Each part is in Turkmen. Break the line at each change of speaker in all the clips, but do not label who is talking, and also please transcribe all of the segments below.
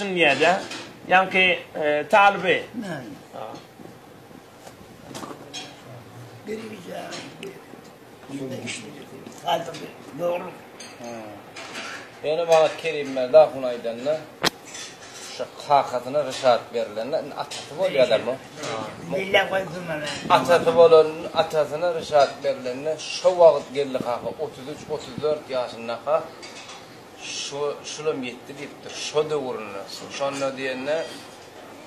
Dünýäde ýaňky talyby. Birije. Ýene
işli. Gaýdyp ýorup.
Ýene maňa Kerim Merda hun aýdanda şu kakasyna Rişat berilende atasy bolýarlar mı? Milla
goýdum ana. Atasy bolan
atasyna Rişat berilende şu wagt geldi kaka 33-34 ýaşyndaka Şo, şulam ýetdi diýipdir. Şo döwründe, şonda diýende,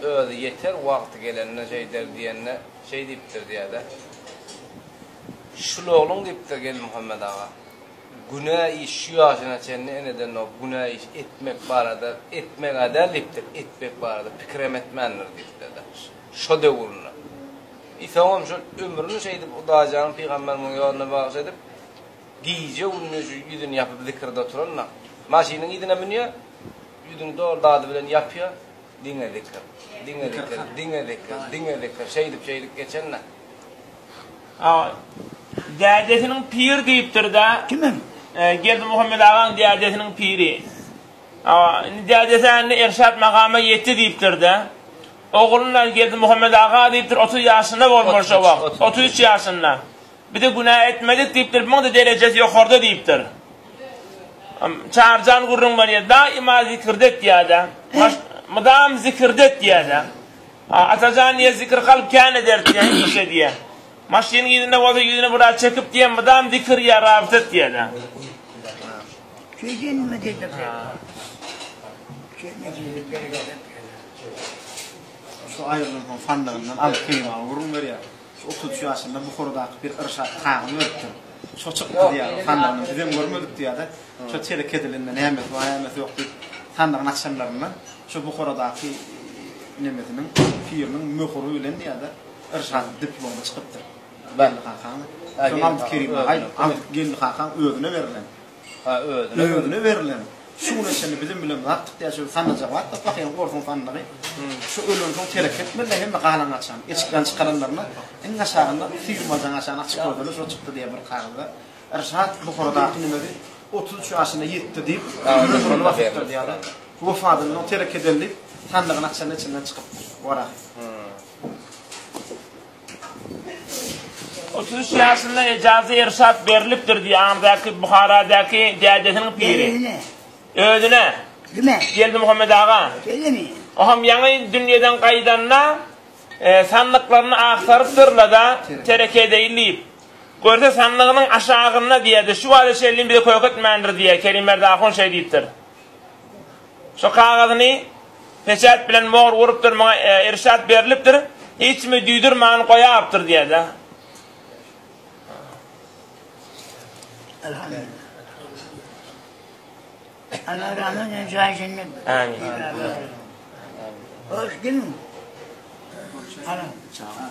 özi ýeter, wagty gelende şeýder diýende, şeý diýipdir diýýär-de. Şulogluň diýipdir Geldimuhammet aga. Günä iş şu ýaşyna çenli enedenok, günä iş etmek barada, etmeg-ä däl diýipdir, etmek barada pikirem etmändir diýipdir-de. Şo döwründe. I soňam şol ömrüni şeýdip Hudaýjanyň pygamberimiň ýoluna bagyş edip, Gije-gündiz ýüzüni ýapyp zikirde oturanda, maşynyň yzyna münýär, ýüzüni doly dady bilen ýapýar, diňe zikir, diňe zikir, diňe zikir, diňe zikir, şeýdip, şeýdip geçende. Awa,
dädesiniň pir diýipdir-dä. Kimiň?
Geldimuhammet
agaň dädesiniň piri. Awa, indi dädesi indi Erşat makama ýetdi diýipdir-dä. Ogluna Geldimuhammet aga diýipdir, otuz ýaşynda bolmaly şo wagt, otuz üç ýaşynda. Bize günä etmedik diýipdir, muňa-da derejesi ýokarda diýipdir. Çarjan gürrüň berýär, daýyma zikirde etýär-de, mydam zikirde etýär-de. Atajan diýýär, zikir kalp kän eder diýýär, iş edýär. Maşynyň yzynda bolsa ýüzüni biraz çekip diýýär, mydam zikir ýa rabyt et diýýär-de. Şeýdin mi diýdik. Şu aýrylyklygyň
sandygyny
alyp geýmäge gürrüň berýär. Şu otuz üç ýaşynda Buharadaky bir irşat kagyz beripdir. Şo çyk gyz ýaly, sandygyny bizem görmedik diýýär-de, şo çeýrek edilende nämesi bar, nämesi ýok diýip, sandygyny açanlarynda şo Buharadaky nemesiniň, piriniň möhüri bilen diýýär-de, irşat diplomy çykypdyr. Geldi kakaň. Soň Abdykerimaý, Abdygeldi kakaň özüne berlen. Şuka özüne özüne berilen şuny şini biziň bilen zatdyk diýä şu sanna jabat da pahyň gorsun sanlary şu ölen soň terek etmeli hemme galan açan eşikden çykaranlaryna iň aşagynda süýümadan aşan açyk gördüler şo çykdy diýe bir kagyzda Rşat Buharadaky nimesi otuz üç ýaşyna ýetdi diýip ömrüni basypdyr diýýärler wefatyndan soň terek edeli diýip sandygyny açanda içinden çykypdyr wara.
Otuz üç ýaşynda ejazy irşat berlipdir diýýär Amrdaky Buharadaky dädesiniň piri. Özüne. Özüne. Kime?
Geldimuhammet aga.
Şeýlemi? Oňam
ýaňy
dünýeden gaýdanda sandyklaryny agtarypdyrlar-da, tereke edeýin diýip. Görse sandygynyň aşagynda diýýär-de, şu wagta çenli bize köýük etmändir diýýär, Kerim Merdi ahun şeý diýipdir. Şu kagyzyny peçat bilen mohr urupdyr, maňa irşat berlipdir, hiç kimi duýdurman goýapdyr diýerdi. Ana
rahmet edin jaýy jennet. Amin. Hoş gelin. Ana. Çağır.